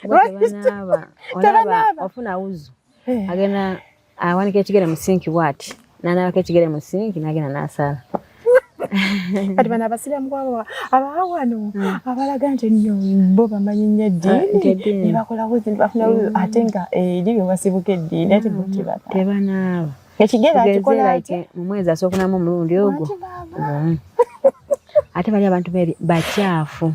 tebanaaba olaba ofuna wuzu eh. agenda awanika ekigere mu sinki bwati nanaabako ekigere mu sinki nagenda nasaala kati bano abasiraamu kwabo abaa wano hmm. abalaga nti enyo bo bamanyi nnyo eddiini ne bakolawo zinti bafuna hmm. ate nga eri be basibuka eddiini ati bukibata hmm. tebanaaba ekigere akikola atya mu mwezi asookunamu omulundi ogwo ate bali abantu bakyafu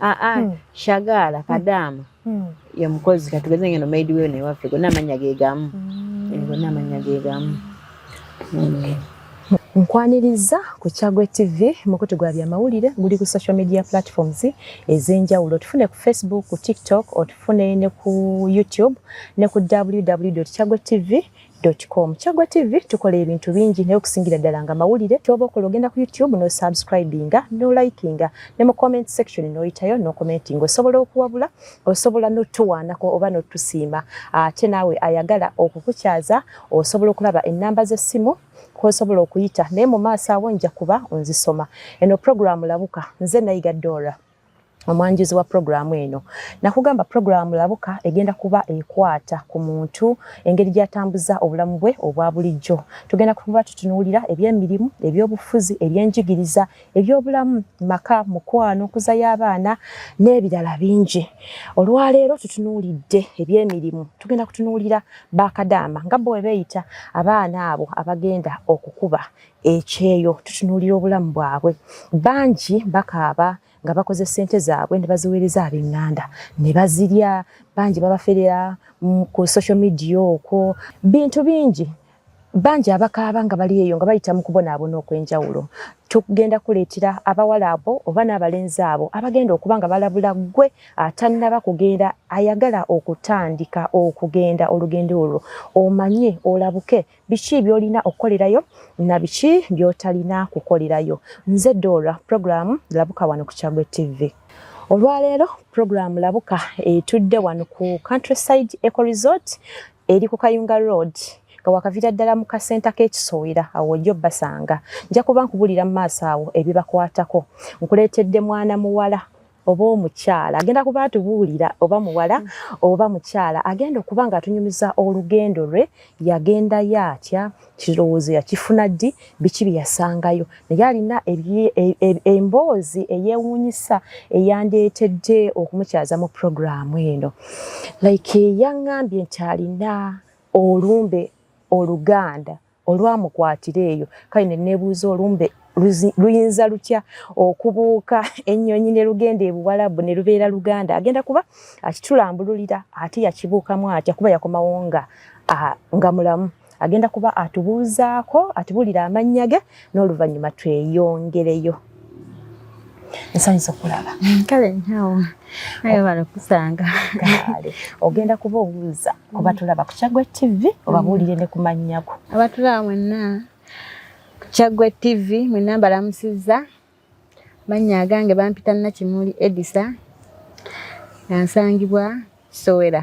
aa ah, ah, hmm. shagaala hmm. kadaama hmm. ye mukozi katugeze ngeno maidi weyo naye waffe gonna amannya ge gamu eh, gonna amannya ge gamu Nkwaniriza ku Kyagwe TV mukutu gwa byamawulire guli ku social media platforms ez'enjawulo tufune ku Facebook, ku TikTok, otufune ne ku YouTube ne ku www.kyagwetv Com. Kyaggwa TV tukola ebintu bingi naye okusingira ddala nga mawulire kyoba okola ogenda ku YouTube no subscribinga no likinga ne mu comment section noyitayo no commenting osobola okuwabula osobola notuwaanako oba notusiima ate naawe ayagala okukukyaza osobola okulaba ennamba z'essimu kwosobola okuyita naye mu maaso awo nja kuba nzisoma eno programu labuka nze nayiga Dora omwanjuzi wa pulogulaamu eno nakugamba pulogulaamu labuka egenda kuba ekwata ku muntu engeri gyatambuza obulamu bwe obwa bulijjo tugenda kuba tutunuulira ebyemirimu ebyobufuzi ebyenjigiriza ebyobulamu maka mukwano nkuza y'abaana n'ebirala bingi olwaleero tutunuulidde ebyemirimu tugenda kutunuulira bakadaama nga bo webeeyita abaana abo abagenda okukuba ekyeyo tutunuulira obulamu bwabwe bangi bakaaba nga bakoze sente zaabwe ne baziweereza ab'eŋŋanda ne bazirya bangi babaferera ku social media okwo bintu bingi bangi abakaaba nga bali eyo nga bayita mu kubonaabona okw'enjawulo tugenda kuleetera abawala abo oba n'abalenzi abo abagenda okuba nga balabula ggwe atannaba kugenda ayagala okutandika okugenda olugendo olwo omanye olabuke biki byolina okukolerayo na biki byotalina kukolerayo nze dora programu labuka wano ku kyagwe tv olwaleero programu labuka etudde wano ku countryside eco resort eri ku kayunga road nga wakavira ddala mu kasenta k'ekisowera awo ojja obbasanga nja kuba nkubulira mu maaso awo ebibakwatako nkuleetedde mwana muwala oba omukyala agenda kuba atubuulira oba muwala mm. oba mukyala agenda okuba nga atunyumiza olugendo lwe yagendayo atya kirowoozo yakifuna ddi biki bye yasangayo naye alina e, e, emboozi eyewuunyisa eyandeetedde okumukyaza mu puroguraamu eno like yaŋŋambye nti alina olumbe oluganda olwamukwatira eyo kale ne nebuuza olumbe luyinza lutya okubuuka ennyonyi ne lugenda ebuwalabu ne lubeera luganda agenda kuba akitulambululira ate yakibuukamu atya kuba yakomawo nga nga mulamu agenda kuba atubuuzaako atubulira amannya ge n'oluvannyuma tweyongereyo nsanyusa okulaba mm, kale nyawo naye oh. balakusanga kale ogenda kuba obuuza kuba mm. tulaba ku kyagwe tv obabuulire mm. ne kumannyako abatulaba mwenna ku kyagwe tv mwenna mbalamusizza mannya agange bampita nakimuli edisa nga nsangibwa kisowera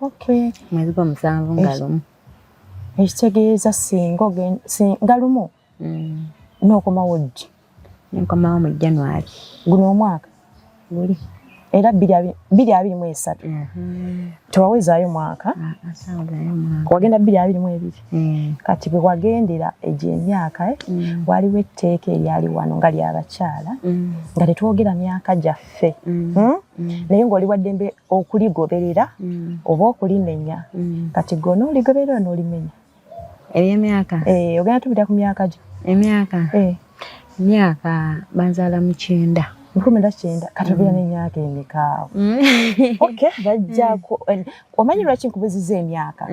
Okay. Mwezi gwa musanvu nga lumu. Ekitegeeza singa ogenda singa lumu. Mm. N'okomawo ddi? N'okomawo mu January. Guno omwaka? Guli. Era bbiri abiri mu esatu. Mm-hmm. Tewawezaayo mwaka. Ah, ah, wagenda bbiri abiri mu ebiri. Mm. Kati bwe wagendera egyo emyaka eh, mm. waliwo etteeka eryali wano nga ly'abakyala mm. nga tetwogera myaka gyaffe. Hmm? Naye ng'oli waddembe okuligoberera mm. oba okulimenya mm. kati gona oligoberera nolimenya ebyemyaka eh, ogenda tubira ku myaka gyo emyaka eh. myaka banzala mukyenda nkumi na kyenda katubira mm. nemyaka emikaawo okay bajjako omanyi lwaki nkubuziza emyaka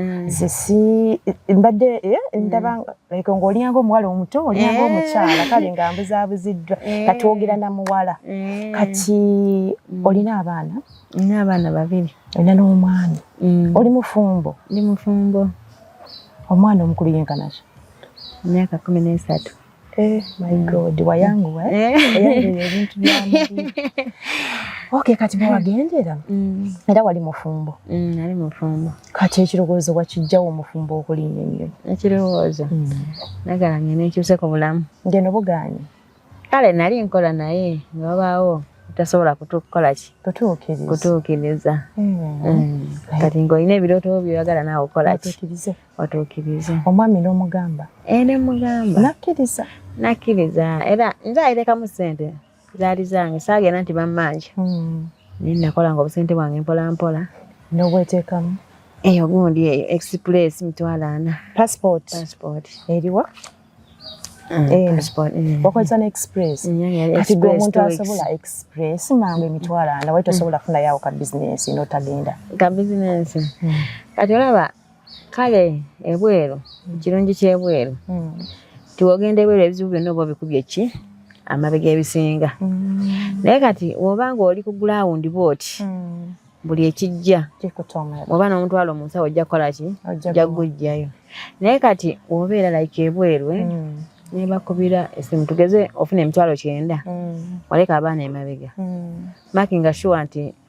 mbadde eh, ndaba like ngo olyanga omuwala omuto olyanga eh. omukyala kale nga mbuzabuziddwa eh. kati wogera na muwala eh. kati mm. olina abaana nina abaana babiri olina n'omwana mm. oli mufumbo ndi mufumbo omwana omukulu yenkanaki myaka kumi n'esatu my mm. god wayanguwa ebintu byamubi okay kati bewagendera era wali mufumbo nali mufumbo kati ekirowoozo wakijjawo omufumbo okulinnya ennyo ekirowoozo hmm. nagala ngene nkyuse ku bulamu ngeno bugaanyi kale nali nkola naye nga babaawo tasobola kutukola ki kutuukiriza hmm. Hmm. kati ngaolina ebirooto byoyagala naawe okola ki otuukirize omwami n'omugamba eh, nemugamba nakkiriza nakkiriza era nze ayirekamu ssente zaali zange saagenda nti bammanja hmm. naye nakolanga obusente bwange mpolampola nobwetekamu eyo gundi eyo express mitwalo ana passport passport eriwa Mm, eh, mm. wakozesa ne express mm, kati gwe omuntu asobola express mangu emitwalo ana wali tosobola kufunayo awo ka bizinensi notagenda ka bizinensi kati olaba kale ebweru ekirungi kyebweru hmm. tiwogenda ebweru ebizibu byonna oba obikubye ki amabega ebisinga hmm. naye kati woba nga oli ku gulawundi bwoti hmm. buli ekijja oba n'omutwalo mu nsawo ojja kukola ki ojja kugujjayo naye kati wobeera like ebweru eh? nebakubira esimu tugeze ofuna emitwalo kyenda waleka abaana emabega makinga shuwa nti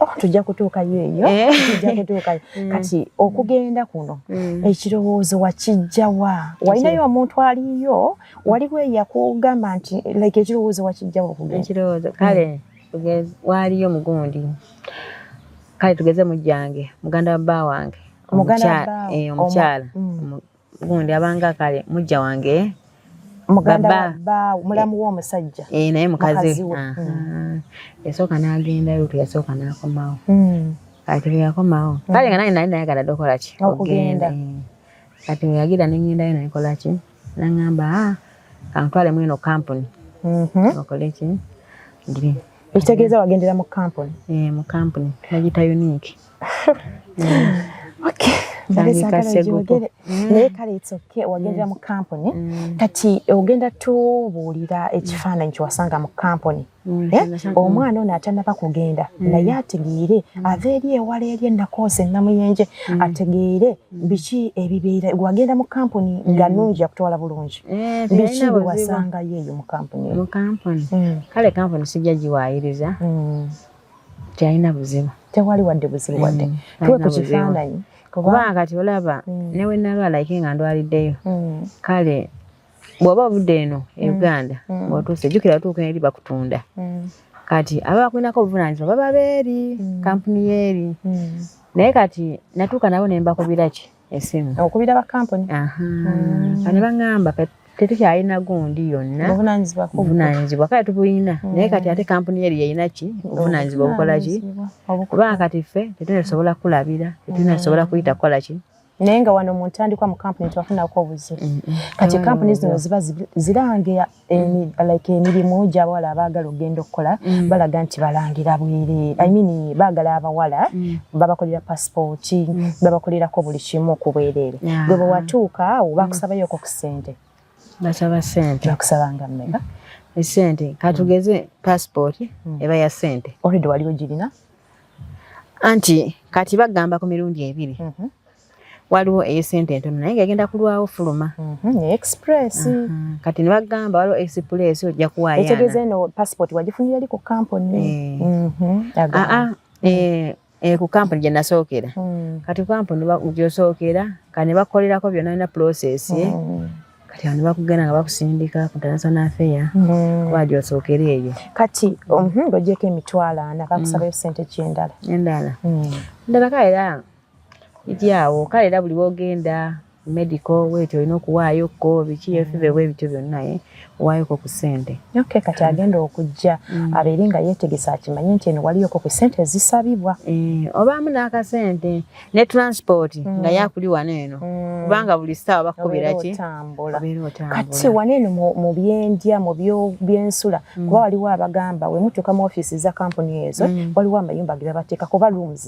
Oh, tujja kutuukayo eyo eh. tujja kutuukayo mm. kati okugenda kuno mm. ekirowoozo wakijjawa walinayo omuntu aliyo waliwo eyakugamba nti like ekirowoozo wakijjawa okugendaekirowoozo mm. kale waaliyo mugundi kale tugeze mujjange muganda wa bba wange omukyala eh, gundi abanga kale mujja wange muganda ba mulamu wo musajja eh naye mukazi hmm. yasooka n'agenda lutu yasooka n'akomawo hmm. kati bwe yakomawo hmm. kale nga naye nali nayagala dokola ki okugenda eh. kati bwe yagira ne ngendayo nayikola ki nangamba ah, kantwale mweno kampuni mhm. okole ki ekitegeeza wagendera mu kampuni eh, mu kampuni bagita unique naye kale etsoke wagendera mu kampuni mm. kati ogenda tubuulira ekifaananyi kyewasanga mu kampuni mm, eh? omwana ono atanaba kugenda mm. naye ategeere ava eri ewala eri enakoosa enamuyenje ategeere biki ebibeera wagenda mu kampuni nga nungi yakutwala bulungi eh, biki bewasangayo eyo mu kampuni kale kampuni sijja giwaayiriza Teyalina buzibu. Tewali wadde buzibu wadde. Mm. Tuwe ku kifaananyi. Kubanga kati olaba mm. ne we nalwala ike nga ndwaliddeyo. Mm. Kale bw'oba ovudde eno e Uganda ng'otuuse jjukira otuuka eri bakutunda. Kati aba bakulinako obuvunaanyizibwa baba beeri kampuni yeeri. Naye kati natuuka nabo ne mbakubira ki. esimu okubira ba kampuni aha mm. ani bangamba kati tetukyalina gundi yonna obuvunanyizibwa kale tubuyina mm. naye kati ate kampuni eri yeyina ki obuvunanyizibwa obukola ki kubanga kati ffe tetulina tusobola kulabira tetulina tusobola kuyita kukola ki naye nga wano mu ntandikwa mu kampuni tewafunako obuzibu mm, mm. kati kampuni zino ziba zirange like emirimu gy'abawala abaagala okugenda okukola mm. balaga nti balangira bwere i mean baagala abawala mm. babakolera pasipooti mm. babakolerako buli kimu ku bwereere gwe bwe watuuka awo bakusabayoko ku ssente basaba sente bakusabanga mmeka esente katugeze pasipooti eba ya sente olwedde wali ogirina anti kati bagamba ku mirundi ebiri mm-hmm. waliwo eyesente entono naye nga egenda kulwawo fuluma mhm, express mhm. kati nebagamba waliwo express ojja kuwayaekitegeeza eno passport wagifunira li ku kampuni eh. mhm, aa ah, ah, eh, eh, ku kampuni gye nasookera hmm. kati ku kampuni gyosookera kati ne bakolerako byonna alina process hmm. kati ano bakugenda nga bakusindika ku international affair hmm. kuba gyosookera eyo kati mhm, ng'ogyeko emitwalo ana kakusabayo sente ki endala endala endala kaera eri awo kale era buli wogenda medico weti olina okuwaayo ko biki efive bwe bityo byonna ye owayoko ku sente ok kati mm. agenda okujja mm. abeere nga yetegesa akimanye nti eno waliyoko ku sente ezisabibwa eh, obaamu n'akasente ne transport mm. nga yakuli wano eno kubanga buli saawa bakukubira ki kati wano eno mu byendya mu byensula kuba waliwo abagamba wemutuuka mu ofiisi za kampuni ezo waliwo amayumba ge babateeka kuba rooms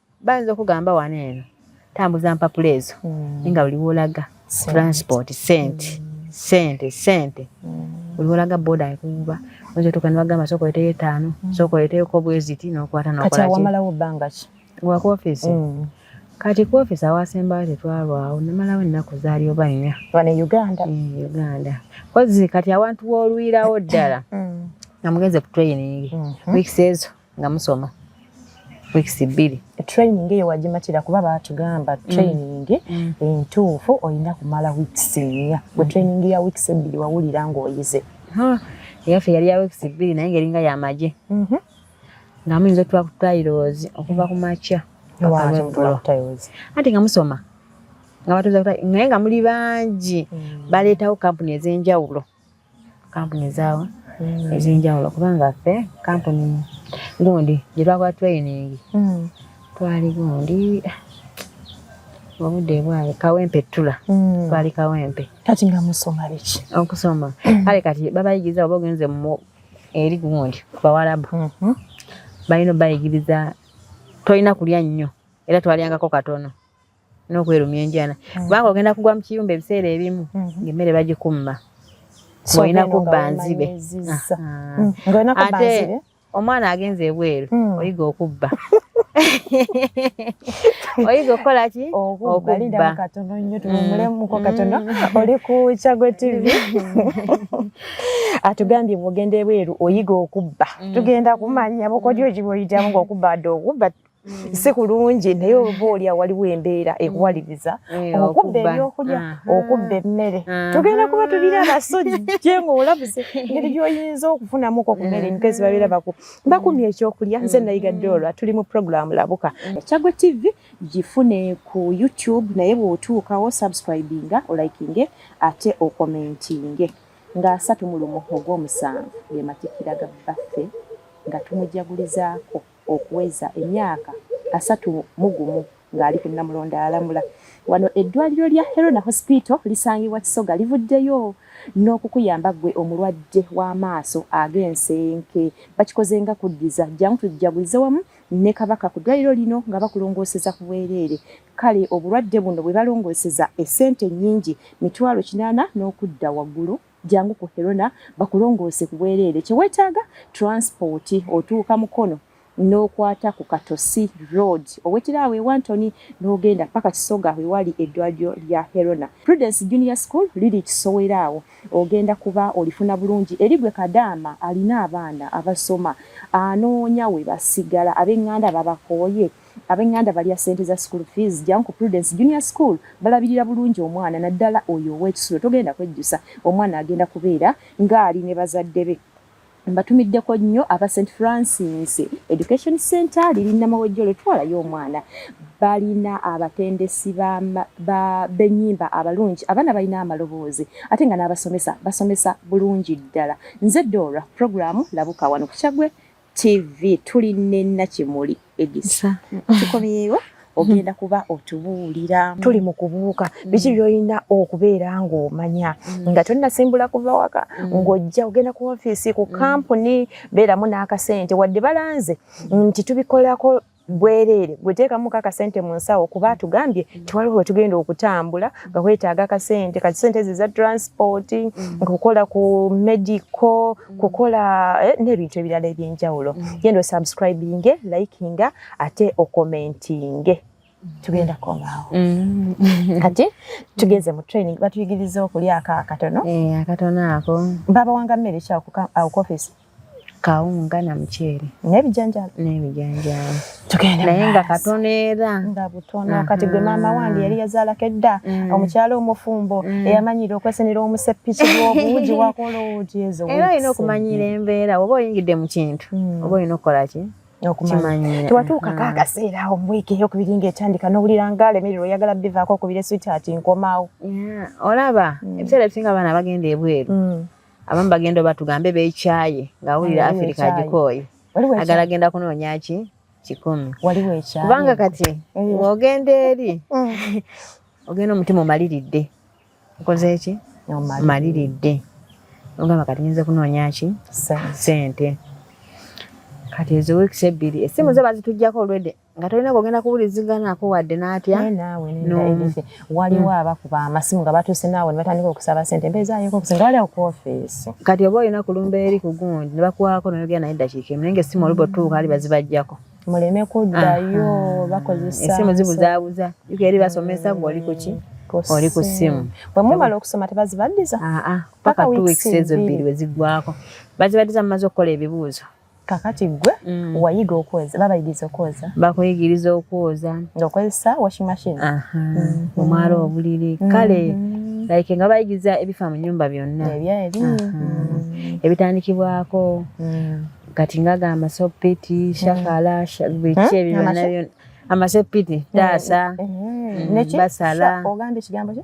Bayinza okugamba wano eno tambuza mpapula ezo mm. nga buli wolaga transport sente mm. sente sente mm. buli wolaga boda ekuba oyinza otuuka ne bagamba sooka oleteyo etaano mm. sooka oleteyoko bweziti nokwata nokati awamalawo bbanga ki wa ku ofisi mm. kati ku ofisi awasembayo tetwalwawo namalawo ennaku zaali oba nnya wane uganda mm, uganda kozi kati awantu wolwirawo ddala mm. nga mugenze ku training mm -hmm. weeks ezo nga musoma weeks bbiri training eyo wagimatira kuba batugamba mm. training mm. entuufu olina kumala weeks nnya gwe mm. training ya weeks ebbiri wawulira ng'oyize eyaffe yali ya weeks bbiri naye ngeringa yamagye mm-hmm. nga muyinza otuwa ku tairozi okuva ku makya anti nga musoma nga batuza naye nga muli bangi baleetawo kampuni ez'enjawulo kampuni zaawo mm. ezenjawulo kubanga ffe kampuni gundi gye twakola training mm. twali gundi obudde bwawe kawempe ttula mm. twali kawempe kati nga musoma biki okusoma kale kati babayigiriza oba ogenze mu eri gundi ku bawalabu mm-hmm. balina obayigiriza tolina kulya nnyo era twalyangako katono n'okwerumya enjala mm. kubanga ogenda kugwa mu kiyumba ebiseera ebimu mm-hmm. ng'emmere bagikumma ng'olina kubba nzibe mm, ate omwana agenze ebweru mm. oyiga okubba oyiga okukola ki okubba katono nnyo tuwumulemuko katono oli ku kyago tv atugambye bwogenda ebweru oyiga okubba tugenda kumanya bukodyo gibwoyitamu ngaokubba adde okubba Mm. si kulungi naye mm. oba olya waliwo embeera mm. ekuwaliriza eh, okubba ebyokulya okubba emmere tugenda kuba tulina abasojje ngaolabuze ngeri gyoyinza okufunamuko kumere emikezi babeera baku bakumya ekyokulya nze nayiga dola tuli mu programu labuka ekyagwe tv gifune ku youtube naye bwotuukawo subscribinga olikinge ate okomentinge nga asatu mu lumu ogwomusanvu gematikira ga baffe nga tumujagulizaako okuweza emyaka asatu mu gumu ng'ali ku Namulondo alamula. Wano eddwaliro lya Herona Hospital lisangibwa Kisoga livuddeyo n'okukuyamba ggwe omulwadde w'amaaso ag'ensenke. Bakikoze nga kuddiza jjangu tujjagulize wamu ne Kabaka ku ddwaliro lino nga bakulongooseza ku bwereere. Kale obulwadde buno bwe balongooseza essente nnyingi mitwalo kinaana n'okudda waggulu. jangu ku Herona bakulongoose ku bwereere. Kye weetaaga transport, otuuka Mukono n'okwata ku Katosi road owetera awo ewantoni n'ogenda paka Kisoga wewali eddwaliro lya Herona. Prudence Junior School liri Kisowera awo ogenda kuba olifuna bulungi eri gwe kadaama alina abaana abasoma anoonya we basigala abeng'anda babakooye. Abenganda balya sente za school fees jang ku Prudence Junior School balabirira bulungi omwana naddala oyo ow'ekisulo togenda kwejjusa omwana agenda kubeera ng'ali ne bazadde be. Mbatumiddeko nnyo aba St Francis Education Center liri Namawejjolo twalayo omwana balina abatendesi b'ennyimba abalungi abaana balina amaloboozi ate nga n'abasomesa basomesa bulungi ddala. Nze Dora, pulogulaamu labuka wano ku Kyaggwe TV tuli ne Nakimuli Edisa tukomyewo ogenda kuba otubuulira tuli mu kubuuka mm. biki byolina okubeera ng'omanya mm. nga tonnasimbula kuva waka mm. ng'ojja ogenda ku ofiisi ku kampuni beeramu n'akasente wadde balanze nti tubikolako bwereere gwe teekamu ka kasente mu nsawo kuba atugambye mm. tewaliwo wetugenda okutambula nga wetaaga akasente kati sente ezo eza transport mm. kukola ku medical mm. kukola eh, n'ebintu ebirala ebyenjawulo genda osubscribinge likinga ate okomentinge tugenda komawo mm. kati tugeze mu training batuyigiriza okulya ako akatono eh, akatono ako baba wanga mmere ki awo ku office kawunga na muceere n'ebijanjaalo n'ebijanjaalo tugende naye nga katono era nga butono kati gwe maama wange yali yazaalako edda mm. omukyala omufumbo mm. eyamanyira okwesenera omuseppiki lw'obuugi wakola obuugi ezo era olina okumanyira embeera oba oyingidde mu kintu mm. oba olina okukola ki okumanya tewatuukako mm. akaseera awo mwiiki eyokubiri ngaetandika nowulira nga alemererwa oyagala bivaako okubira eswiti ati nkomawo olaba mm. ebiseera ebisinga abaana bagenda ebweru mm. abamu bagenda oba tugambe beekyaye ng'awulira afirika agikooye agala agenda kunoonya ki kikumi kubanga kati ng'ogenda eh. eri eh. ogenda omutima omaliridde okoze ki omaliridde ogamba kati nyinza kunoonya ki sente kati ezo weeks ebbiri essimu zo bazitugyako olwedde nga tolina kwogenda kuwuliziganaako wadde n'atya waliwo hmm. abakuba amasimu nga batuuse naawe ne batandika okusaba sente mbeeza ayeko okusinga wali awo ku ofiisi kati oba olina kulumba eri ku gundi ne bakwako noyogera naye eddakiika emu naye nga essimu oluba otuuka ali bazibajjako muleme kuddayo bakozesa essimu zibuzaabuza yuka eri basomesa gwe oli kuki oli ku ssimu bwe mumala okusoma tebazibaddiza paka two weeks ezo bbiri we ziggwako bazibaddiza mumaze okukola ebibuuzo kakati gwe mm. wayiga okwoza babayigiriza okwoza bakuyigiriza okwoza ngaokozesa washing machine mm-hmm. omwala obuliri mm-hmm. kale like nga bayigiriza ebifa mu nyumba byonna mm-hmm. ebitandikibwako kati ngagamba sopiti shakala biki ebyo byonna amasepiti taasa basala ogamba ekigambo kye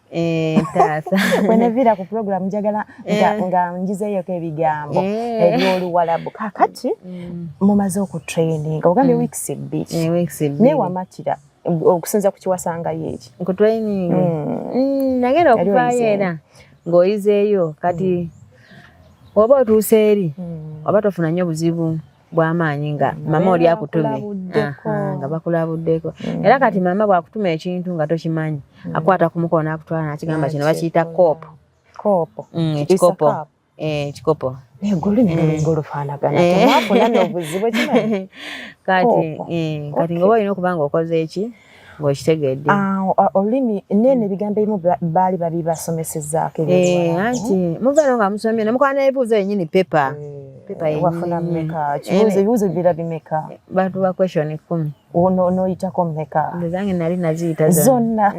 Eh, ntaasa weneviira ku pulogulaamu njagala eh. nga njizeeyoko ebigambo eh. ebyoluwalabu kakati mm. mumaze okutraininga ogambye mm. weeks ebbiri naye wamatira okusinza ku kiwasangayo eki nkutraining mm. nagenda okuvaayo era ng'oyizeeyo kati oba otuuse eri oba tofuna nnyo buzibu bwamaanyi nga mama oli akutumye nga bakulabuddeko mm. era kati mama bwakutuma ekintu nga tokimanyi mm. akwata ku mukono akutwala nakigamba kino bakiyita koopo koopo mm, ekikopo ekikopo eh, naye gwe olulimi lulinga olufaanagana eh. temwafuna n'obuzibu ekimanyikati eh, eh, ng'oba olina okuba nga okoze eki ng'okitegedde ah, olulimi neeno mm. ebigambo ebimu baali babibasomesezaako eh, anti eh? muvaano nga musomye nemukola nebibuuzo yenyini pepa eh, wafuna meka kibuuzo bira bimeka bantu ba question kumi noyitako meka ezange nali naziyita zonna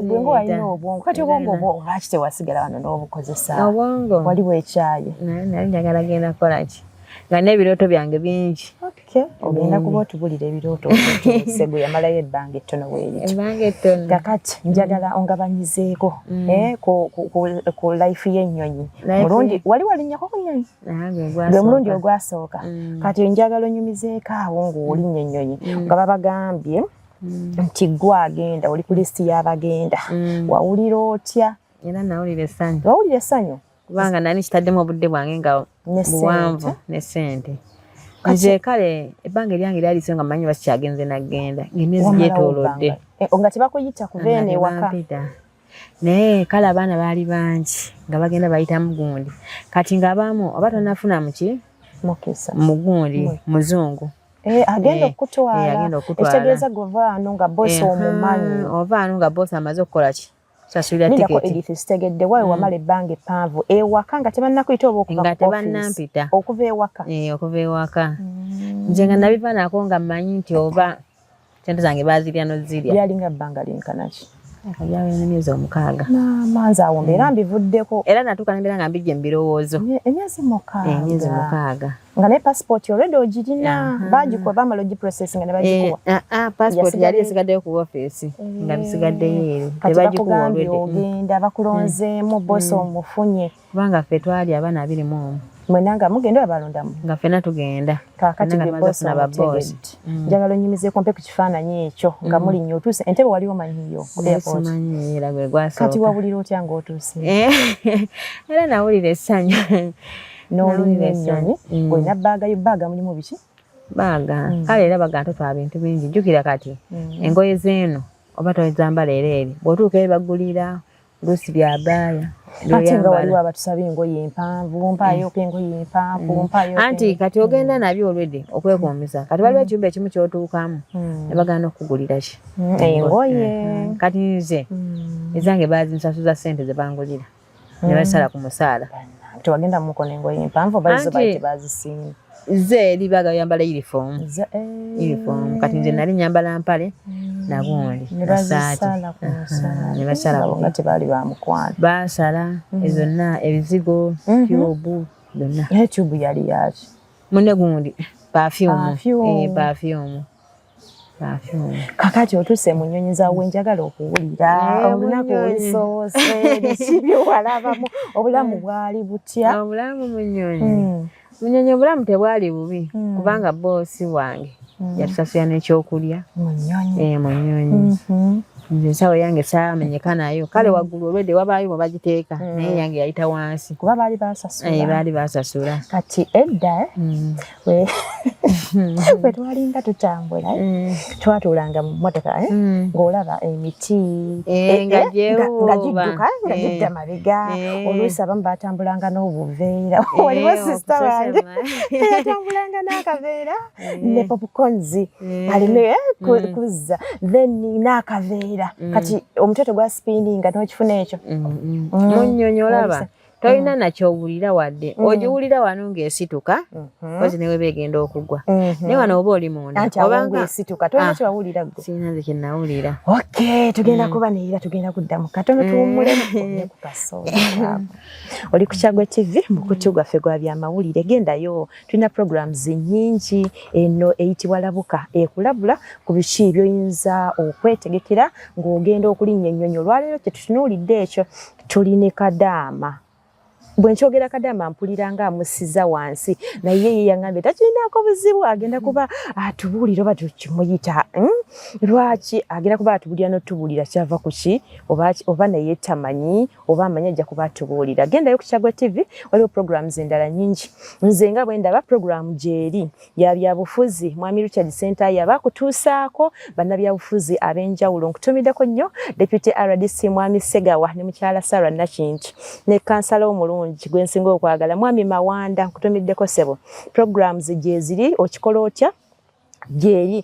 gwe walina obwongo kati obwongo obwo lwaki tewasigala wano n'obukozesa obwongo waliwo ekyayi nali njagala genda kukolaki nga n'ebirooto byange bingi kyo ogenda kuba otubulira ebirooto segu yamalayo ebbanga ettono weerito kakati njagala ongabanyizeeko mm. eh, ku life y'ennyonyi mulundi wali walinyako ku nyonyi gwe mulundi ogwasooka mm. kati njagala onyumizeeko awo ng'olinya ennyonyi mm. nga babagambye nti gwe agenda oli ku lisiti y'abagenda wawulira otya wawulira essanyu kubanga nali nkitaddemu obudde bwange nga buwanvu ne sente nze kale ebbanga eryange lyaliso nga manyi bakikyagenze nagenda ngemyezi gyetolodde eh, oh, nga tebakuyita kuva eno ewaka naye kale abaana baali bangi nga bagenda bayitamu gundi kati ngaabamu oba tonafuna muki mugundi muzungu Eh, agenda eh, okutwala eh, ekitegeeza gwe ovaano nga bosi omumanyi ovaano nga bosi amaze okukola ki sasulira tiketi edith sitegedde wawe mm. wamala ebbanga eppanvu ewaka nga tebannakuyita oba okuva nga tebannampita okuva ewaka eh, okuva ewaka mm. nze nga nabivanako nga mmanyi nti oba sente zange bazirya nozirya byalinga bbanga linkanaki akajawo emyezi omukaaga manzi awo mbeera mm. mbivuddeko era natuuka nembeera nga mbijje mu birowoozo emyezi mukaaga eh, emyezi mukaaga nga ne passport already ogirina baji kwa bamalo gi process nga baji eh, kwa ah ah passport yali esigadde ku office eh. nga bisigadde yero tebaji ku already ogenda bakulonze eh. mu boss mm. omufunye kubanga fe twali abana abiri mu mwenanga mugenda abalonda mu nga fena tugenda kakati be boss na baboss mm. njagalo nyimize kompe ku kifananyi ekyo nga mm. muli nyo tuse entebe wali omanyi yo ku airport kati wabulira otya ngotuse era nawulira esanyu n'olinya ennyonyi mm. olina bbaaga yo bbaaga mulimu biki bbaaga mm. kale era baga totwala bintu bingi jjukira kati mm. engoye zeeno oba tozambala era eri bw'otuuka eri bagulira oluusi bya baaya ate nga waliwo abatusaba engoye empanvu mpaayoko engoye empanvu mpaayoko anti kati ogenda nabyo olwedde okwekuumiza kati waliwo ekiyumba ekimu kyotuukamu ne bagana okukugulira ki engoye kati nze ezange baazinsasuza ssente ze bangulira mm. ne basala ku musaala tewagenda mu mukono engoye mpanvu oba zo baite bazisimba ze libaga yambala uniform ze eh. uniform kati nze nali nyambala mpale mm. na gundi ne basala ku musaala ne basala ku ngate bali ba mukwano basala mm. ezo na ebizigo mm-hmm. kyobu donna ne kyobu yali yaki mune gundi perfume eh perfume kakati otuse mu nyonyi za wenjagala okuwulira eh, olunaku olusoose biwalabamu obulamu eh. bwali butya obulamu munyonyi hmm. munyonyi obulamu tebwali bubi hmm. kubanga boosi wange hmm. yatusasula nekyokulya munyonyi eh, mhm. nze ensawo yange saamenyeka nayo kale waggulu olwedde wabaayo mwe bagiteeka naye yange yayita wansi kuba baali basasula baali basasula kati edda bwe twalinga tutambula eh, mm. twatuulanga mu mmotoka eh, mm. ng'olaba emiti eh, nga gidduka nga gidda mabega oluusi abamu baatambulanga n'obuveera waliwo sisita wange yatambulanga n'akaveera ne popkonzi alina mm. kuzza then n'akaveera kati omutwe tegwa sipininga n'okifuna ekyo munyonyi olaba tolina mm. nakyowulira wadde mm. ogiwulira wano ngaesituka mm-hmm. kozi newe begenda okugwa mm-hmm. naye wano oba oli mundaobangasinanze kyenawulira ok tugenda mm. kuba neera tugenda kuddamu katono mm. tuwummulemu oli ku kyagwe tv mukutu gwaffe gwa byamawulire gendayo tulina programs nyingi eno eyitibwa labuka ekulabula ku biki byoyinza okwetegekera ng'ogenda okulinnya ennyonyi olwaleero kyetutunuulidde ekyo tuli ne kadaama bwe nkyogera kadaama mpulira nga amusiza wansi naye ye yaŋambye takirinaako buzibu agenda kuba atubuulira oba tukimuyita hmm? lwaki agenda kuba atubuulira notubuulira kyava kuki oba naye tamanyi oba amanyi ajja kuba atubuulira gendayo ku kyagwa tv waliwo programs endala nyingi nze nga bwe ndaba programu gyeri ya byabufuzi mwami Richard Sentaya bakutuusaako bannabyabufuzi ab'enjawulo nkutumiddeko nnyo Deputy RDC mwami Segawa ne mukyala Sarah Nakintu ne kansala omulungi gwe nsinga okwagala mwami Mawanda nkutumiddeko sebo programs gyeziri okikola otya gyeri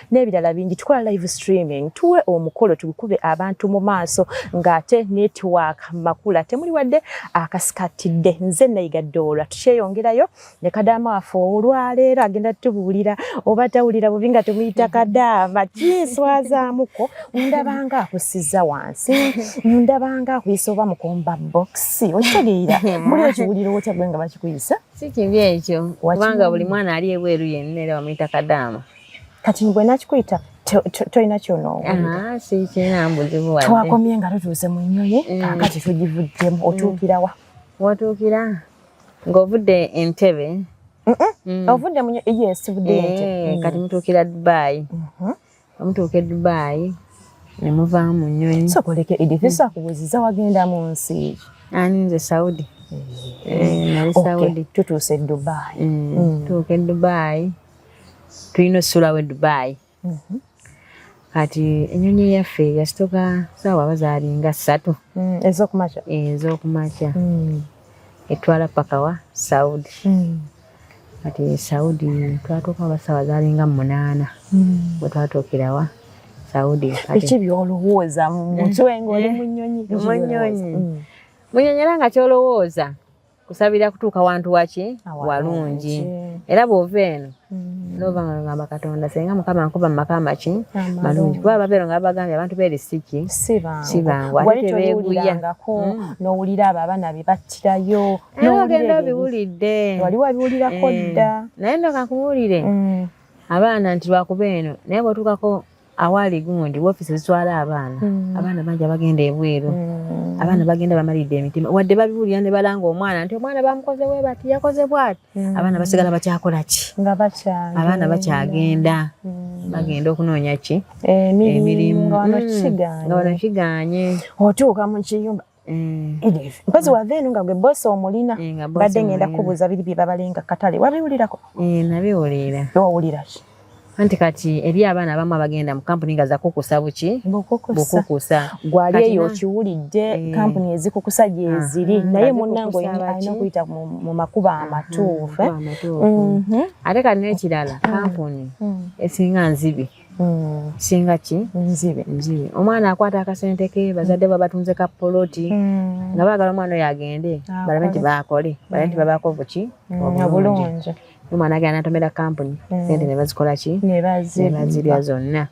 n'ebirala bingi tukola live streaming tuwe omukolo tugukube abantu mu maaso ng'ate network makula temuli wadde akasikatidde nze nayiga doola tukyeyongerayo ne kadaama waffe olwaleero agenda tubuulira oba tawulira bubi nga tumuyita kadaama kinswazaamuko ndabanga akusiza wansi ndabanga akuyisa oba mukomba bokisi okitegeera muli okiwulira otya gwe nga bakikuyisa si kibi ekyo kubanga buli mwana ali ebweru yenna era bamuyita kadaama kati bwe nakikuyita tolina kyonoowulirtwakomye ah, nga tutuuse mu nnyonyi mm. kakati tugivuddemu mm. otuukira wa watuukira ng'ovudde entebe mm. ovudde mu yes vudde eh, kati mutuukira dubaayi mm-hmm. omutuuka edubaayi ne muvaamu mu nnyonyi sokoleke edifisa kubuziza wagenda mu nsi ani nze saudi eh, eh, nali saudi tutuuse edubaayi tuuka edubaayi tulina osusulawo edubayi mhm. kati enyonyi yaffe yasitoka saawa bazaali nga ssatu mm, ezokumakya eh, ezokumakya mm. etwala pakawa saudi mm. kati saudi twatuuka oba saawa zaali nga munaana bwetwatuukirawa saudi biki byolowooza mumutwe ngaoli munyonyi munyonyi munyonyi era nga kyolowooza kusabira kutuuka wantu waki walungi era bw'ova eno mm. nova nga ngamba katonda senga mukama nkuba mumaka amaki malungi kuba babeero nga babagambye abantu beeri siki sibangu ate tebeeguya mm. nowulira abo abaana be battirayo ogenda obiwulidde wali wabiwulirako eh. dda naye ndoka nkuwulire mm. abaana nti lwakuba eno naye bwotuukako awaali gundi wofiisi ezitwala abaana mm. abaana bangi abagenda ebweru mm. abaana bagenda bamalidde emitima wadde babiwulira ne balanga omwana nti omwana bamukoze we bati yakoze bwati mm. abaana basigala bakyakola ki abaana bakyagenda bagenda okunoonya ki eh, emirimu nga wano kiganye otuuka mu kiyumba Mm. mpozi wava eno nga gwe bosi omulina eh, badde ngenda kubuuza biri bye babalenga katale wabiwulirako eh, nabiwulira wawulira ki anti kati eri abaana abamu abagenda mu kampuni nga zakukusa buki bukukusa gwali eyo okiwulidde eh. kampuni ezikukusa gyeziri ah, naye munange alina okuyita mu makuba ah, amatuufu mhm. ate kati nekirala ah. kampuni mm. esinga nzibi Mm. singa ki nzibe nzibe omwana akwata akasente ke bazadde mm. babatunze ka poloti mm. nga baagala omwana oyo agende ah, balabe nti baakole balabe nti mm. babaako buki obulungi omwana agenda natomera kampuni mm. sente ne bazikola ki ne bazirya zonna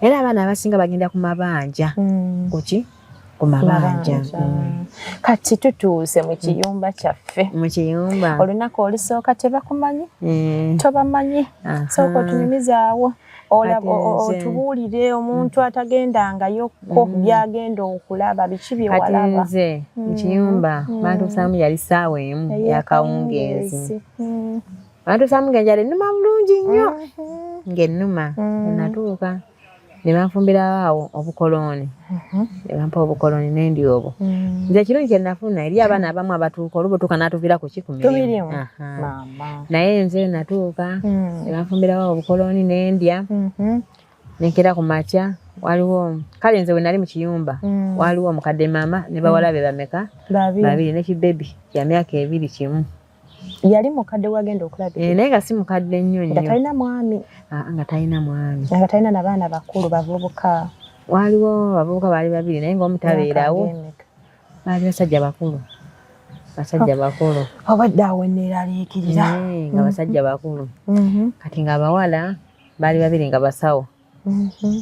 era abaana abasinga bagenda ku mabanja mm. kuki ku mabanja mm. kati tutuuse mu kiyumba kyaffe mu kiyumba olunaku olusooka tebakumanyi eh. tobamanyi sooka otunyumizaawo otubuulire omuntu mm. atagendangayokko mm. byagenda okulaba biki byewalaba nze mu kiyumba bantusaamu yali saawa emu yakawungeezi bantusaamu ngenjali numa bulungi nnyo mm-hmm. ng'ennuma enatuuka ne banfumbirawo awo obukolooni mhm. ne bampa obukolooni ne ndi obwo mm. nze ekirungi kye nafuna eri abaana abamu abatuuka oluba otuuka n'atuviira ku kikumirimu naye nze natuuka mm. ne banfumbirawo obukolooni ne ndya mhm. ne nkera ku makya waliwo kale nze we nali mu kiyumba mm. waliwo omukadde maama ne bawala be bameka babiri ne kibebi kya myaka ebiri kimu yali mukadde wagenda okulabirira eh, naye nga si mukadde nnyo nnyo nga talina mwami ah, nga talina mwami nga talina na baana bakulu bavubuka waaliwo abavubuka baali babiri naye ngaomu tabeerawo baali basajja bakulu basajja bakulu obadde awo enneeraliikirira eh, nga basajja bakulu mm-hmm. kati nga abawala baali babiri nga basawo mhm.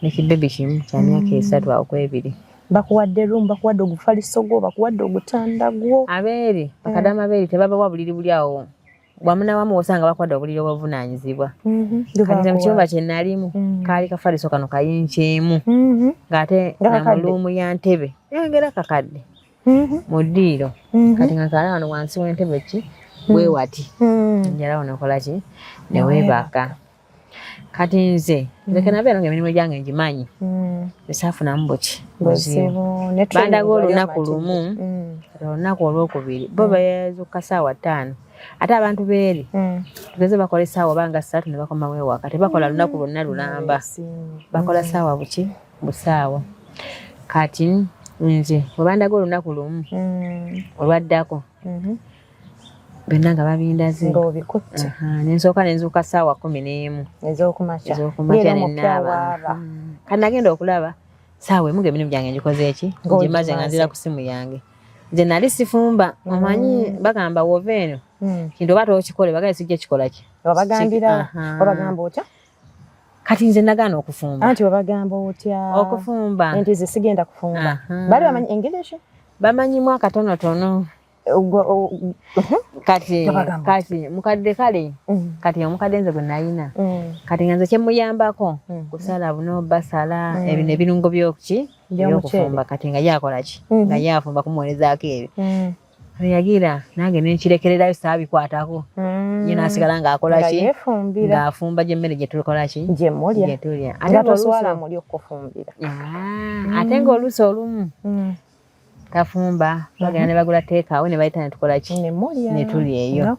nekibebi kimu kyamyaka mm. esatu akwebiri bakuwadde room bakuwadde ogufaliso gwo bakuwadde ogutanda gwo abeeri bakadama eh. abeeri tebabawa buliri buli awo wamuna wamu osanga bakwada obuliri obuvunanyizibwa mhm. kati mukiyumba kyenalimu mhm. kaali kafaliso kano kayinkyemu mhm. ngaate namuluumu ya ntebe yongera kakadde mu ddiiro kati nga kaala wano wansi wentebe ki wewati njala wano okolaki newebaka kati nze nzeke mm. nabeera nga emirimu gyange ngimanyi mm. esaafunamu buki bandaga olunaku lumu mm. olunaku olwokubiri bo bezuka saawa ttaano ate abantu beeri tugeze bakola esaawa banga satu nebakomawo ewaka tebakola lunaku lwonna lulamba bakola saawa buki busaawa kati nze webandaga olunaku lumu olwaddako mm-hmm. byonna nga babindaze nga obikutte nensooka nenzuuka ssaawa kumi n'emu ez'okumakya nenaaba hmm. kati nagenda okulaba saawa emu ngaemirimu gyange ngikoze eki ngimaze nga nzira ku simu yange nze nali sifumba hmm. omanyi bagamba wova eno hmm. kintu oba tokikole bagaye sijja kikola ki kati nze nagaana okufumba anti wabagamba otya okufumba nti ze sigenda kufumba bali bamanyi english bamanyimu akatonotono kati kati mukadde kale mm. kati omukadde nze gwe nalina mm. kati nga nze kyemuyambako mm. kusala buno basala ebyo nebirungo byokuki byokufumba kati nga yakola ki mm-hmm. nga yafumba kumuwerezaako ebyo yagira nange nenkirekererayo saabikwatako ye nasigala ngaakolaki ngaafumba gyemmere gyetukolaki gyetulya ate ngaoluusi olumu tafumba bagenda mhm. ne bagula teekaawe ne bayita ne tukola ki ne tuli eyo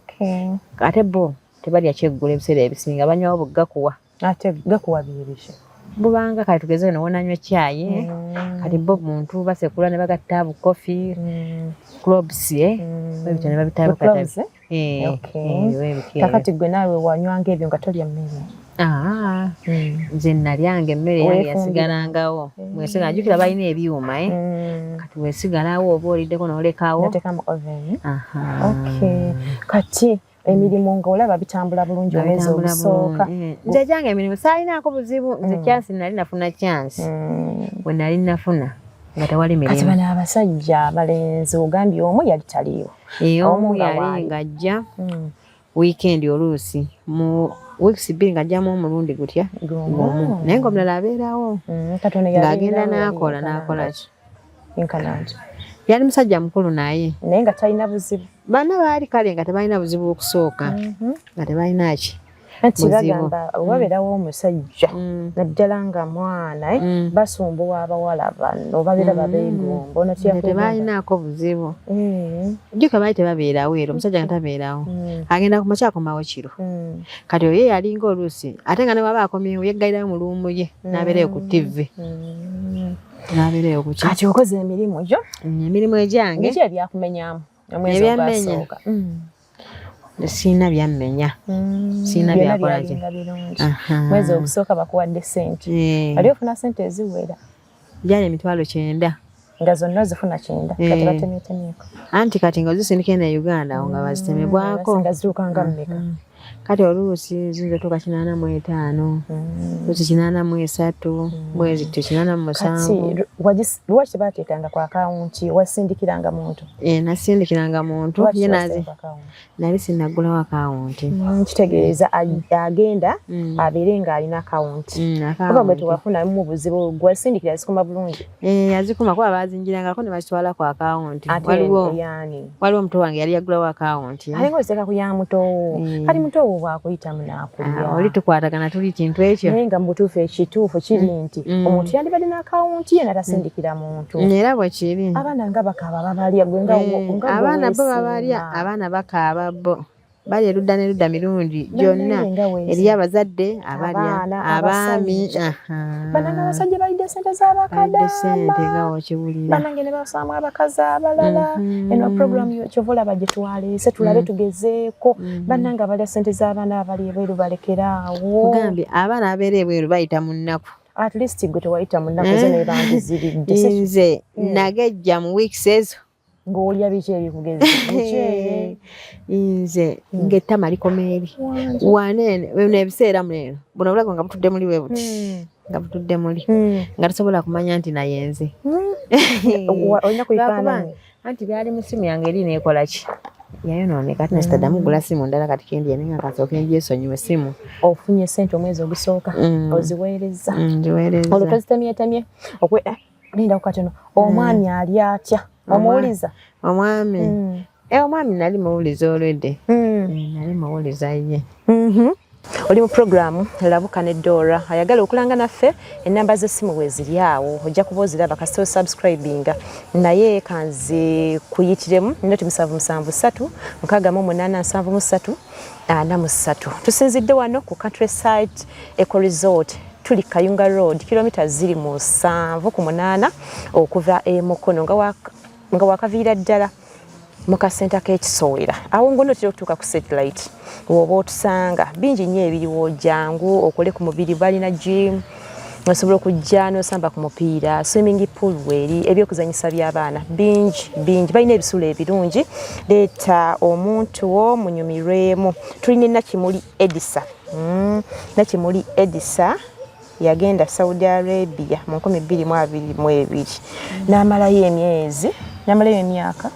ate bo tebalya kyeggula ebiseera ebisinga banywawo bugakuwa ate gakuwa bibishe bubanga kati tugeze no wona nywe chai mm. kati bob muntu base kula ne bagatta bu coffee mm. clubs ye mm. babita ne babita bagatta Eh, eh, kakati gwe naawe wanywanga ebyo nga tolya mmere ah, hmm. nze nalyanga emmere yange yasigalangawo eh. mwesiga najukira balina ebyuma e kati wesigalawo oba oliddeko nolekawo kati emirimu nga olaba bitambula bulungi omwezi ogusooka nze gyange emirimu saalinaako buzibu nze hmm. kyansi nali nafuna kyansi hmm. we nali nafuna nga tewali mirimu kati bano abasajja abalenzi ogambye omu yali taliiwo Eh, omu yali ng'ajja hmm. wiikendi oluusi mu weeks bbiri ng'ajjamu omulundi gutya gumu naye ng'omulala abeerawo hmm, ng'agenda n'akola n'akola ki yali musajja mukulu naye naye nga talina buzibu baana baali kale nga tebalina buzibu okusooka mhm. nga tebalina ki anti bagamba mm. wabeerawo omusajja mm. naddala nga mwana eh, mm. basumbuwa abawala bano babeera babengombo tebalinaako buzibu eh. jjuka baali tebabeerawo era omusajja nga tabeerawo agenda ku makya akomawo kiro kati oyo yalinga oluusi ate nga newaba akomyewo yeggalirayo mu luumu ye n'abeerayo ku ttivvi n'abeerayo ku kati okoze emirimu gyo emirimu egyange ebyakumenyamu omwezi ogwasooka sirina byammenya mm, sirina byakola mwezi ogusooka bakuwadde sente eh. ali ofuna sente eziwera byali emitwalo kyenda nga zonna ozifuna kyenda eh. kati batemyetemyeko anti kati nga ozisindika ena e uganda awo nga mm, bazitemebwako nga ziruka nga mmeka mm. kati oluusi zinza tuuka kinaana mu etaano luusi kinaana mu esatu mwezi tyo kinaana mu musanvu Lwaki baateekanga ku akawunti wasindikiranga muntu? Ee, eh, nasindikiranga muntu ye nazi nali sinaggulawo akawunti. Mm, kitegeeza agenda mm. abeere ng'alina akawunti mm, kuba gwe tewafunamu buzibu gwasindikira zikuma bulungi? Ee, eh, yazikuma kuba baazinjirangako ne bazitwala ku akawunti waliwo yaani waliwo omuto wange yali yagulawo akawunti eh? alinga oseka ku ya mutowo eh. kati mutowo bwakuyitamu nakulya ah, oli tukwatagana tuli kintu ekyo naye nga mubutuufu ekituufu kiri mm. nti mm. omuntu yandibadde n'akawunti ye natasindikira mm. muntu era bwekiri abaana nga bakaaba babalya gwenga eh, abaana bo babalya abaana bakaaba bo bali erudda n'erudda mirungi gyonna eriyo abazadde abalya abaami banange abasajja balidde sente zabakadambanange ne basaamu abakazi abalala mhm. eno programu kyova olaba gye twaleese tulabe mhm. tugezeeko mhm. banange abalya sente z'abaana abali ebweru balekere awo gambi abaana abeera ebweru bayita mu nnaku at least gwe tewayita mu nnaku zo eh. nebandiziridde nze mm. nagejja mu weeks ezo ng'olya biki ebikugezi nze hmm. ng'ettama likomeeri waneene bino ebiseera muneeno buno obulago nga butudde muli bwe buti hmm. nga butudde muli hmm. nga tosobola kumanya nti naye nze olina kuifaananyi anti byali mu ssimu yange eri neekola ki yayonooneka ati nasitaddamu mm. gula simu ndala kati kendi yane nga kasooka engyesonyiwe simu ofunye sente omwezi ogusooka mm. oziweereza mm, nziweereza olwo tozitemyetemye Linda kukateno omwami mm. ali atya omuwuliza omwami mm. e eh, omwami nali muwuliza olwedde mm. Eh, nali muwuliza ye mm-hmm. oli mu puroguramu labuka ne dora ayagala okulanga naffe enamba z'essimu weziri awo ojja kuba oziraba kasita osubscribinga naye kanze kuyitiremu noti musanvu musanvu satu mukaaga mu munaana nsanvu mu satu ana mu satu tusinzidde wano ku country site eco resort tuli kayunga road kilomita ziri musanvu ku munaana okuva e mukono nga wakaviira ddala mu kasenta k'ekisowera awo ngono otera okutuuka ku satellite woba otusanga bingi nnyo ebiriwo jangu okole ku mubiri balina gym osobola okujja n'osamba ku mupiira swimming pool weeri ebyokuzanyisa by'abaana bingi bingi balina ebisulo ebirungi leeta omuntu wo munyumirwemu tulina enakimuli edisa Mm, Nakimuli Edisa yagenda Saudi Arabia mu nkumi bbiri mu abiri mu ebiri n'amalayo emyezi n'amalayo emyaka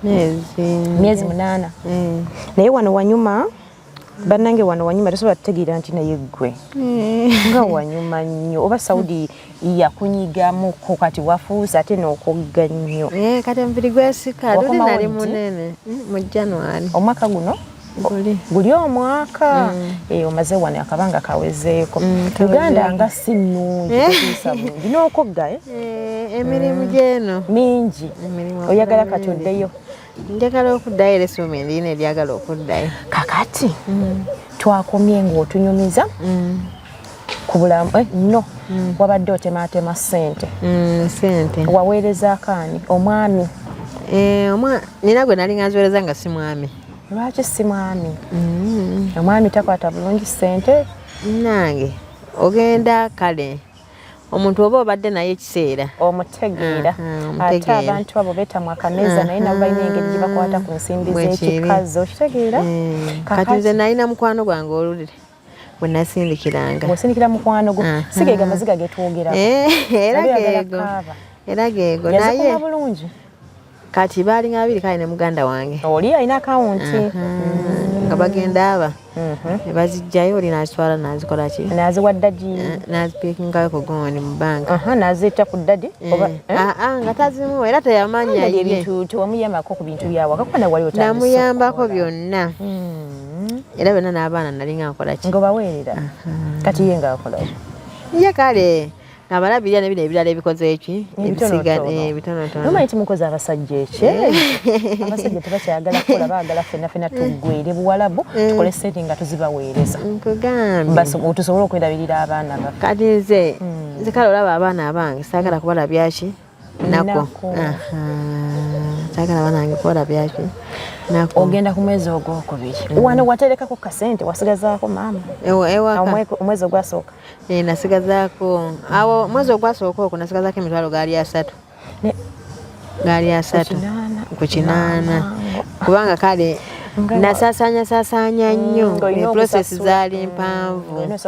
myezi munaana mm. naye wano wanyuma banange wano wanyuma tosobola tutegeera nti naye ggwe mm. nga wanyuma nnyo oba saudi yakunyigamuko kati wafuuse ate n'okogga nnyo eh, kati omubiri gwesika luli nali munene mm, mu january omwaka guno guli omwaka mm. eh, omaze wano akabanga kawezeeko mm, uganda nga si nnungi eh. tetuusa bulungi n'okugga eh? emirimu mm. gyeno mingi oyagala kati oddeyo njagala okuddayo era esoma endiyina eryagala okuddayo kakati twakomye ng'otunyumiza ku bulamu eh, no mm. wabadde otemaatema ssente mm, sente waweereza akaani omwami eh, nina gwe nali nganziweereza nga si mwami lwaki si mwami mm. omwami takwata bulungi sente nange ogenda kale omuntu oba obadde naye ekiseera omutegeera mm, mm, ate abantu abo betamwa akameeza naye nabo balina engeri gye bakwata ku nsimbi z'ekikazi okitegeera kati nze nalina mukwano gwange olulire bwe nasindikiranga bwosindikira mukwano gwo si geego amaziga getwogera eh, era geego era geego naye bulungi kati baalinga babiri kale ne muganda wange oli alina akawunti nga bagenda aba mhm. bazijjayo oli nazitwala nazikola ki naziwa ddagi eh, nazipikingayo ku gooni mu banka nazitta ku ddadi eh, eh? ah, ah, nga tazimu era teyamanya ebintu tewamuyambako ku bintu byawaka kuba nawali namuyambako byonna hmm. era bena n'abaana nalinga nkolaki nga obaweerera kati ye nga akolaki ye kale abalabirira nebino ebirala ebikoze eki ebisigaebitonotonomanyi eh, timukoze abasajja ekye eh. abasajja tebakyagala kukola bagala fena fena tugwere buwalabu eh. tukole sente nga tuzibaweereza tusobole okwelabirira abaana baffe kati nze hmm. nze kale olaba abaana abange sagala kubalabyaki nako kyagala banange kola byaki ogenda ku mwezi ogwokubiri mm. wano waterekako kasente wasigazaako maama omwezi ogwasooka eh, nasigazaako awo mwezi ogwasooka okwo nasigazaako emitwalo gaali asatu gaali asatu ku kinaana kubanga kale nasasanya sasanya mm, nnyo process zaali mpanvu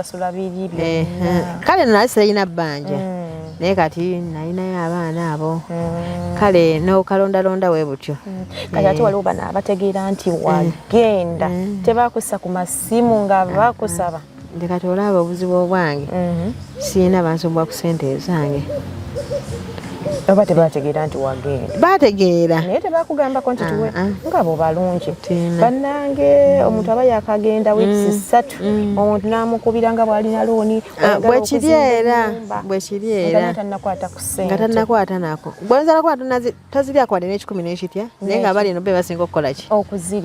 kale nali sirina bbanja mm. naye kati nalinayo abaana abo mm. kale nokalondalonda we butyo mm. kati ate eh. waliwo bana abategeera nti eh. wagenda eh. tebakussa ku masimu nga ah, ah. bakusaba nti kati olaba obuzibu obwange mm-hmm. sirina bansubwa ku sente ezange oba tebategeera nti wagenda bategeera naye tebakugambako nti tuwe ah, ah. nga bo balungi bannange omuntu aba yakagenda wiiki mm, ssatu mm. omuntu namukubira nga bwalina looni Ah, bwekiri era bwekiri era nga tanakwata nako gwenza nakuba tozirya kwade n'ekikumi n'ekitya naye nga abali eno be basinga okukola ki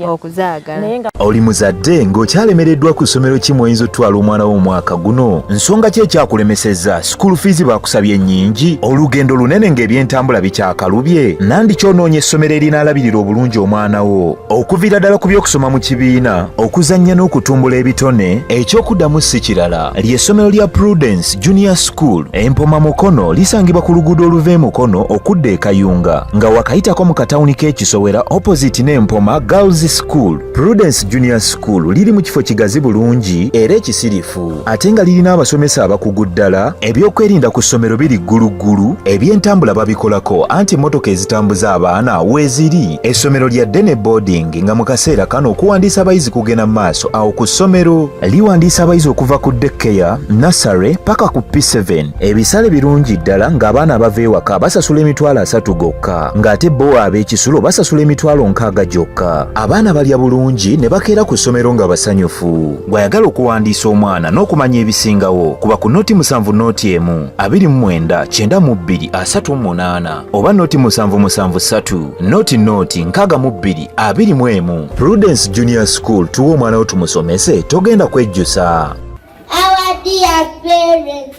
okuzaagala oli muzadde ng'okyalemereddwa ku ssomero ki mwoyinza otutwala omwana wo omwaka guno nsonga ki ekyakulemesezza sikuulu fiizi bakusabye ennyingi olugendo lunene ng'ebyentambula bikyakalubye nandi kyonoonye essomero erinaalabirira obulungi omwana wo Okuvira ddala ku by'okusoma mu kibiina, okuzannya n'okutumbula ebitone, eky'okuddamu si kirala ly'essomero lya Prudence Junior School Empoma Mukono lisangibwa ku luguudo oluva e Mukono okudda e Kayunga nga wakayitako mu katawuni k'ekisowera opposite n'Empoma Girls School. Prudence Junior School liri mu kifo kigazi bulungi era ekisirifu. eggulumivu ate nga lirina abasomesa abakugu ddala ebyokwerinda ku ssomero biri gguluggulu ebyentambula babikolako anti emmotoka ezitambuza abaana weeziri essomero lya dene boarding nga mu kaseera kano okuwandiisa abayizi kugenda mu maaso awo ku ssomero liwandiisa abayizi okuva ku dekkeya nasare paka ku p7 ebisale birungi ddala ng'abaana abava ewaka basasula emitwalo asatu gokka ng'ate bo ab'ekisulo basasula emitwalo nkaaga gyokka abaana balya bulungi ne bakeera ku ssomero nga basanyufu gw'ayagala okuwandiisa omwana n'okumanya ebisingawo kuba ku noti musanvu noti emu abiri mu mwenda kyenda mu bbiri asatu mu munaana oba noti musanvu musanvu ssatu noti noti nkaaga mu bbiri abiri mu emu prudence junior school tuwa omwana wo tumusomese togenda kwejjusa Our dear parents,